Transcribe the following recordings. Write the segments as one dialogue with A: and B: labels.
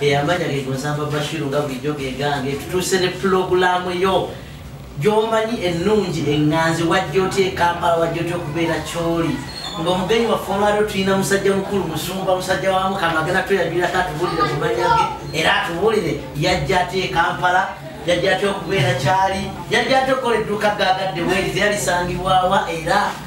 A: eyamanya gegonsamba bashiru nga bulijjo gegange tutuuse ne pulogulaamu yo gyomanyi ennungi eŋŋanzi wajja otya ekampala wajja otya okubeera kyoli ngaomugenyi waffe olwaliro tulina musajja mukulu musumba musajja wa mukama agenda tweyajulirako atubulire kumanya ge era atubulire yajja atya ekampala yajja atya okubeera kyali yajja atya okukola edduuka gagadde werize yalisangibwawa era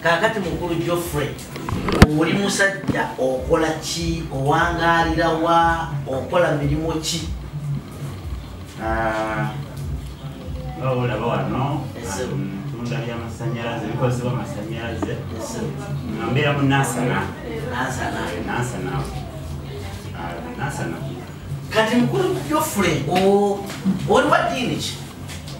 A: kakati mukulu joffrey oli musajja okola ki owangalira wa okola mirimu ki
B: ah, olaba wano um, tunda byamasanyalaze bikozesebwa amasanyalaze nga mbeera mu nasana
A: nasana ah, kati mukulu joffrey oli wa diini ki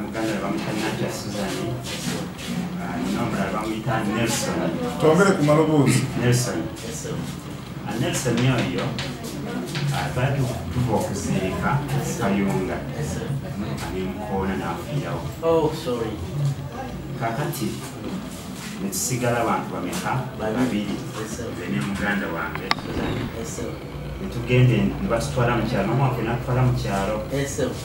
B: muganda bamuyita natya susan nomulala ah, bamuyita nelson twogere ku
C: maloboozi nelson
B: ah, nelson oyo ah, twali tuva okuziika kayunga nemukoona nafiirawo oh, kakati netusigala bantu bameka babiri ne muganda wange netugende nebatutwala mukyalo nomwaka natutwala mukyalo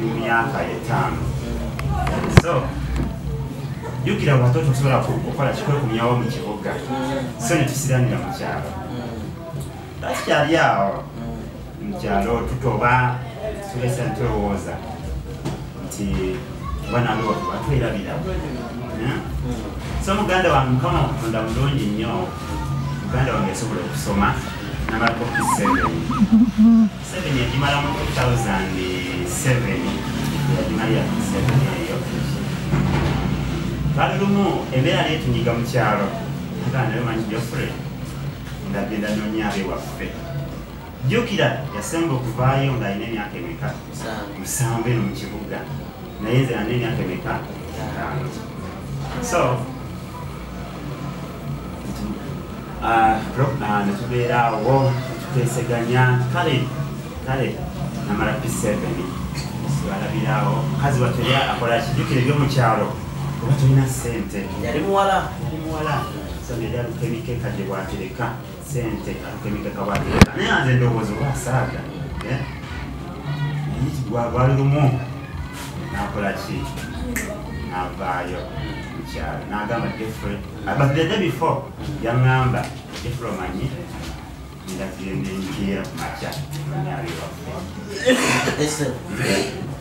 B: mu myaka etaano so jukira watoto tusobola kukola kikwekumyawo mu kibuga so netusiranira mu kyalo takikyali awo mu kyalo tutoba tulesa ntulowooza nti banange watu batwerabira hmm? so muganda wange mukama okutonda mulungi nnyo muganda wange yasobola okusoma namalako kiseveni Museveni yagimala mu 2007 yagimalira ku Museveni eyo kale lumu embeera netunyiga mu kyalo agaa nayo manyi Geoffrey ndagenda nonya abe waffe jjukira yasemba okuvaayo ng'alina emyaka emeka musanvu eno mu kibuga naye nze nalina emyaka emeka etaano so Ah, ah, netubeera awo tuteeseganya kale kale namala p7 alabiraawo mukazi watuli akola kijukire ebyomukyalo oba tulina sente yali muwala
A: yali muwala
B: so neyalukemikekadde bwatereka sente atemeka kabati naye anze ndowooza oba asaaga eh? gwali lumu nakola ki navaayo mukyalo nagamba jeffrey ah, but the day before yaŋamba jeffrey omanyi ndagende nkeera ku makya nyabiwaffe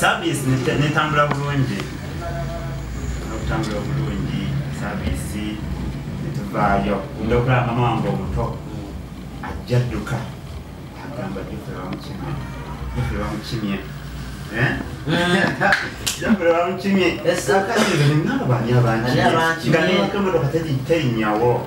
B: service netambula bulungi okutambula obulungi service netuvaayo nda okulaba mama wange omuto ajja dduka agamba jufe bamukimye jufe bamukimye eh? jufe bamukimye akakirire nabo bani abankimye nga newakemotoka terinyawo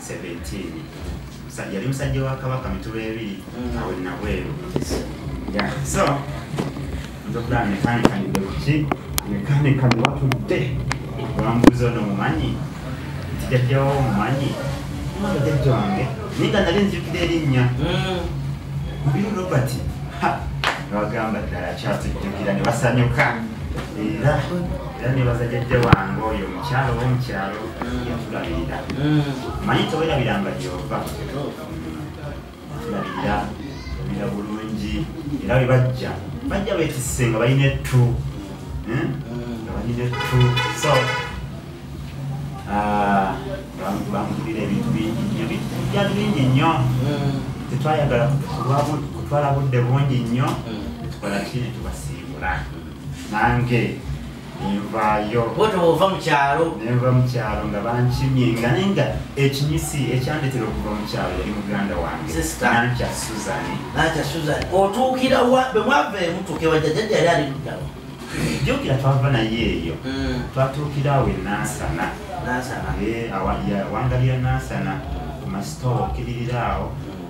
B: 17 yali musajja wa kabaka mituba ebiri mm. awe nabweru so ndokulaba mekanikanidde kuki mekanika niwatudde olambuuza ono mumanyi kijajjawo mumanyi jajja wange naye nga nali nzijukira erinnya mm. mubiri robert newagamba ddala kyatujjukira ne basanyuka era era nebaza jajja wange oyo omukyalo oba omukyalo yatulabirira manyi tewerabiranga gyova atulabirira obira bulungi era bwe bajja bajja betisse nga balina ettu hmm? nga balina ettu so ah, bamugulira ebintu bingi nyo byatu bingi nnyo hmm. tetwayagala kutwala budde bungi nnyo hmm. tukola ki netubasiibula nange nenvaayo bwotyo bwova mu kyalo nenva mu kyalo nga bankimye nga naye nga ekinyisi ekyandetera okuva mu kyalo yali muganda wange nankya suzani nankya suzani otuukira
A: wa bwe mwava emutuuka ewajjajjajja yali ali muddawa jukira
B: twava naye eyo mm. twatuukira awo enansana eh, wangalira nansana ku masitoowa okiririra awo mm.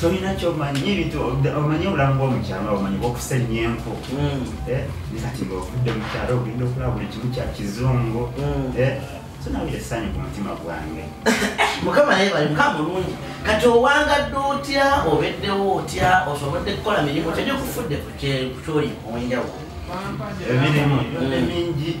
B: tolina kyomanyi ebintu omanyi obulamu bwomukyalo nga omanyi bwokusa ennyo enku hmm. eh, nekati nga ovudde mukyalo ogenda okulaba buli kimu kya kizungu hmm. eh, sonawira essanyu ku mutima gwange mukama naye
A: bali mukama mulungi kati owangadde otya obeddewo otya osobodde kukola mirimu kyenyo kufudde kukyoli
B: owenjawulo emirimu mingi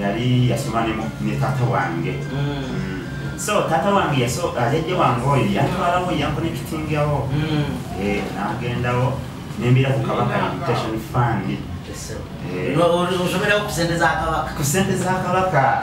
B: yali yasoma ne mu- ne taata wange Mm. so taata wange yaso- ah, jajja wange oyo yantwalawo yankonekitingawo Mm. Eh, nagendawo nembira ku kabaka invitation fund Eh. No,
A: osomerawo ku sente za kabaka ku sente za kabaka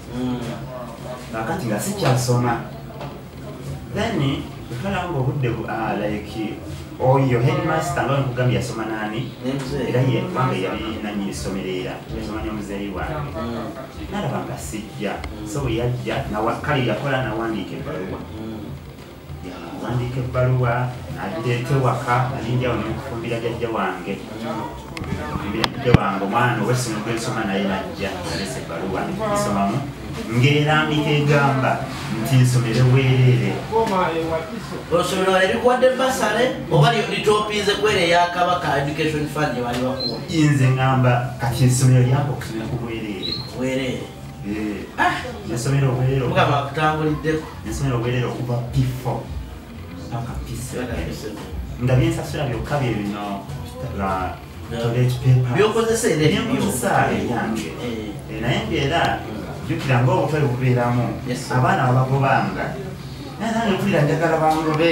B: nakati nga sikyasoma then otwala nga obudde ah, like oyo headmaster nga nkugambye yasoma nani era yebanga yali nanyini ssomero era yasoma nyo muzeeyi wange nalaba nga sijja so bwe yajja kale yakola nawandiika ebbaluwa wandiika ebbaluwa nagireeta ewaka nalinjawo nekufumbira jajja wange jajja wange omwana owesino gwensoma naye najja nalesa ebbaluwa nsomamu ng'erambika egamba nti nsomere weerere
A: osomero ebikuwadde basale oba litopiize kwere ya kabaka education fund gyebaali bakuwa nze ngamba
B: kati nsomero lyako okusomera ku bwereere
A: nasomera obwerere okuva
B: pifo paka pise nga byensasula byokka bye bino byokozesa era ebyokozesa ebyange naye ngaera jukira ngaobutale bubeeramu abaana babagobanga naye nange mpulira njagala bangobe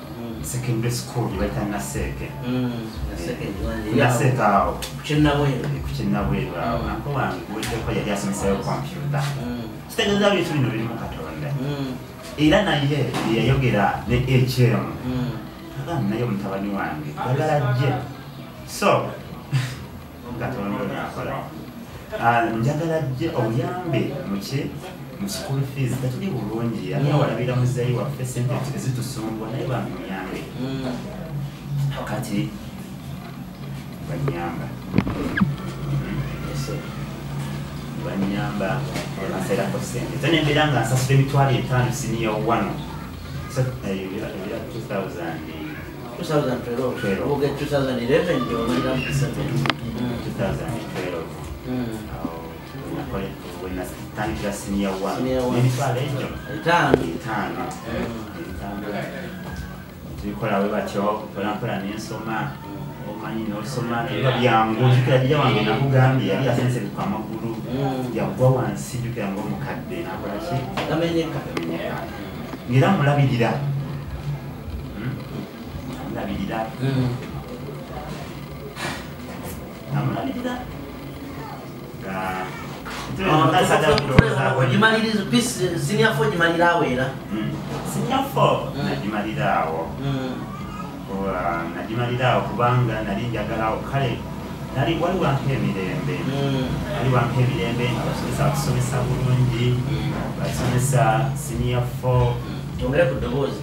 B: secondary school gyebayita naseeke naseeke awo kukinabweru awo nako wange guweddeko yali asomesayo kompyuta kitegeeza bintu bino birimu katonda era naye yeyayogera ne ekyemu agamba naye omutabani wange agala jje so katonda ono akola ah, njagala jje obuyambe muki mu school fees tetuli bulungi ani awalabira muzeeyi waffe sente ezitusumbwa naye bantu muyambe mm. kati banyamba banyamba ebaseerako sente ze nembeera nga nsasula emitwalo etaano siniya owano ebira 2000 tubikola we batyo mpolampola nensoma omanyi nosoma naye byangu jukira jija wange nakugambye yali yasensebuka amagulu mm. yagwa wansi jukira ngaomukadde nakolaki ngera mulabirira namulabirira namulabirira
A: ogimaliriza pisi siniafo ogimalira awo era siniafo
B: nagimalira awo nagimalira awo kubanga nali njagala awo kale nali wali wampa emirembe wali wampa emirembe nga basomesa batusomesa bulungi basomesa siniafo tongere ku ddoboozi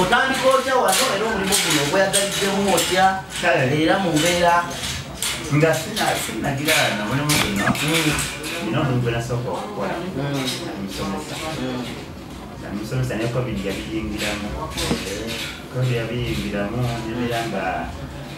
A: otandika otya wano era omulimu guno ogweyagaliddemu otya era mu mbeera nga
B: sinagirana mulimu guno nina omuntu gwenasooka okukola omusomesa omusomesa ne covid yabiyingiramu covid yabiyingiramu nebeera nga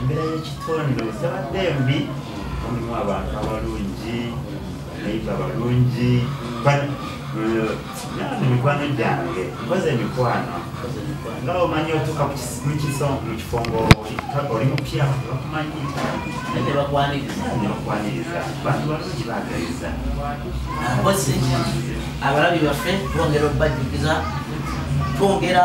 A: embeera
B: y'ekitonde tabadde mbi mulimu abantu abalungi nayiba abalungi nani mikwano gyange mpoze emikwano nga omanyi otuuka mukifo ngaoli mupya bakumanyi nebakwaniriza bantu balungi bagaliza
A: mpozi abalabi baffe twongera okubajjukiza twongera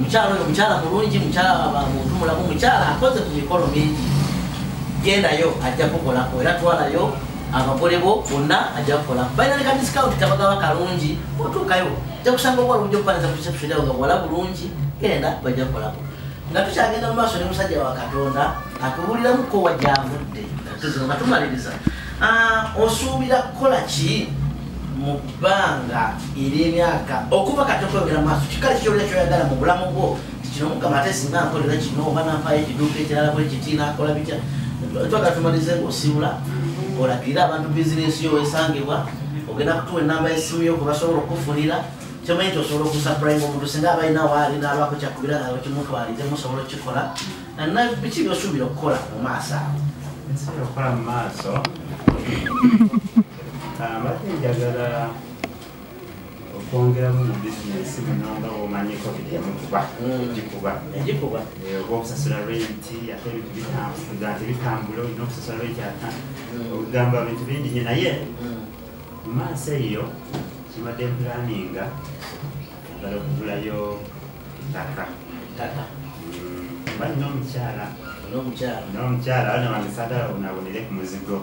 A: mukyala oyo mukyala mulungi mukyala muntu mulamu mukyala akoze ku mikolo mingi gendayo ajja kukolako era twalayo abagole bo bonna ajja kukola balina leka discount tabagaba kalungi otuukayo ajja kusanga okola obujja okupanisa perception yawe nga wala bulungi genda bajja kukolako nga tukyagenda mu maaso ne musajja wa katonda atubuuliramuko wa gyavudde nga tumaliriza ah, osuubira kukola ki banga ery'emyaka okuva kati okweyogera maaso kikale kikyolera kyoyagala mu bulamu bwo kino mukama ate singa nkolera kino oba nampayo ekiduuka ekirala bwe kiti nakola bitya twaga tumalize ngaosiibula olagirira abantu bizinesi yo wesangibwa ogenda kutuwa enamba yesimu yo kubasobola okukufunira kyomanyi nti osobola okusapulainga omuntu singa abalina waali nalwako kyakubira nawe kimutwalidde musobola okukikola biki byosuubira okukola mu maaso
B: awo okwongeramu mu bizinesi muno nga bwomanyiko byemukuba egikuba hmm. egikuba eh, oba okusasula renti ate ebintu bitambuza ate bitambula olina okusasula renti ata hmm. okugamba bintu bingi nyo naye hmm. mu maaso eyo kibadde planinga agala okugulayo Tata. Tata. Bali n'omukyala. N'omukyala. N'omukyala bano bandisada unabonere ku muzigo.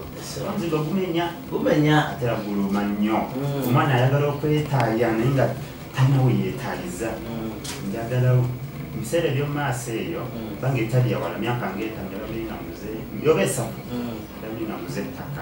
B: Omuzigo gumenya. Gumenya. Ate aguluma nnyo. Mm. Omwana ayagala okwetaaya naye nga tanawe yeetaayiza. Mm. Njagala ebiseera eby'omu maaso eyo mm. bange etali yawala myaka ng'etaano yabadde nga muze yoba esatu yabadde nga muze ettaka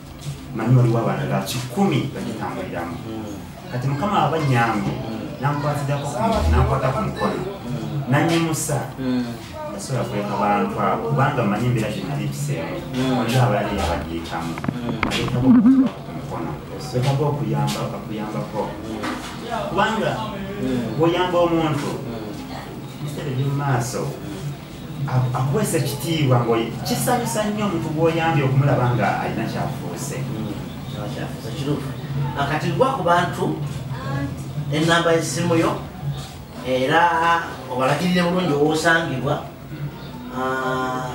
B: manyi waliwo abaana ga kikumi bagitambuliramu kati mukama aba nyangu nankwatidako nankwata ku mukono nanyimusa asobola kuleka bantu abo kubanga manyi embeera ginali mpiseemu oli abalala yabagiyitamu ayitamu okutuba ku mukono wetaba okuyamba akuyambako kubanga oyamba omuntu bisere byomumaaso akuweesa ekitiibwa ngo kisanyusa nnyo omuntu gwoyambye okumulaba nga alina kyafuuse
A: kituufu akati gwa ku bantu enamba esimu yo era obalagirire bulungi owosangibwa ah,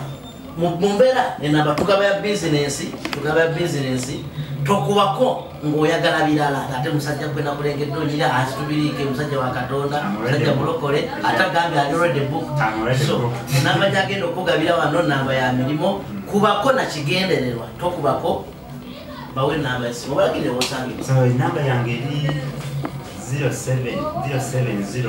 A: mu mbeera enamba tugaba ya bizinensi tugaba ya bizinensi tokubako ng'oyagala birala ate musajja gwe nakulengedde onyira asitubiriike musajja wa katonda musajja mulokole ate agambye alirede book so namba gyagenda okukugabira wano namba ya mirimu kubako nakigendererwa tokubako bawe namba esimu obalagire wosange namba yange
B: eri 07 070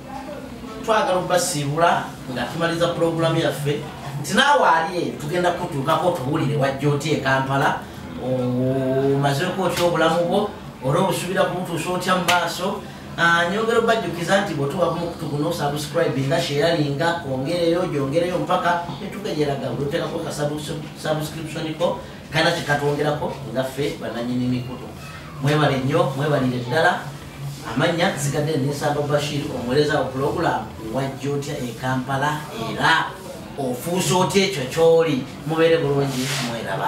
A: twagala okubasiibula nga tumaliza pulogulamu yaffe nti naawe ali eyo tugenda kutuukako otubuulire wajja oti e kampala omazeeko otya obulamu bwo ora obusubira kumutuusa otya mu maaso ah, nyongera obajjukiza nti bwetuba kumukutu guno osubscribinga sheyalinga ongereyo gyongereyo mpaka etukejeraga bwetutekako kasubscription ko kana kikatwongerako nga ffe bananyini mikutu mwebale nnyo mwebalire ddala amannya zigadde nesamba bashir omuwereza wa pulogulaamu wajja otya e kampala era ofuuse otya ekyo kyoli mubeere bulungi mweraba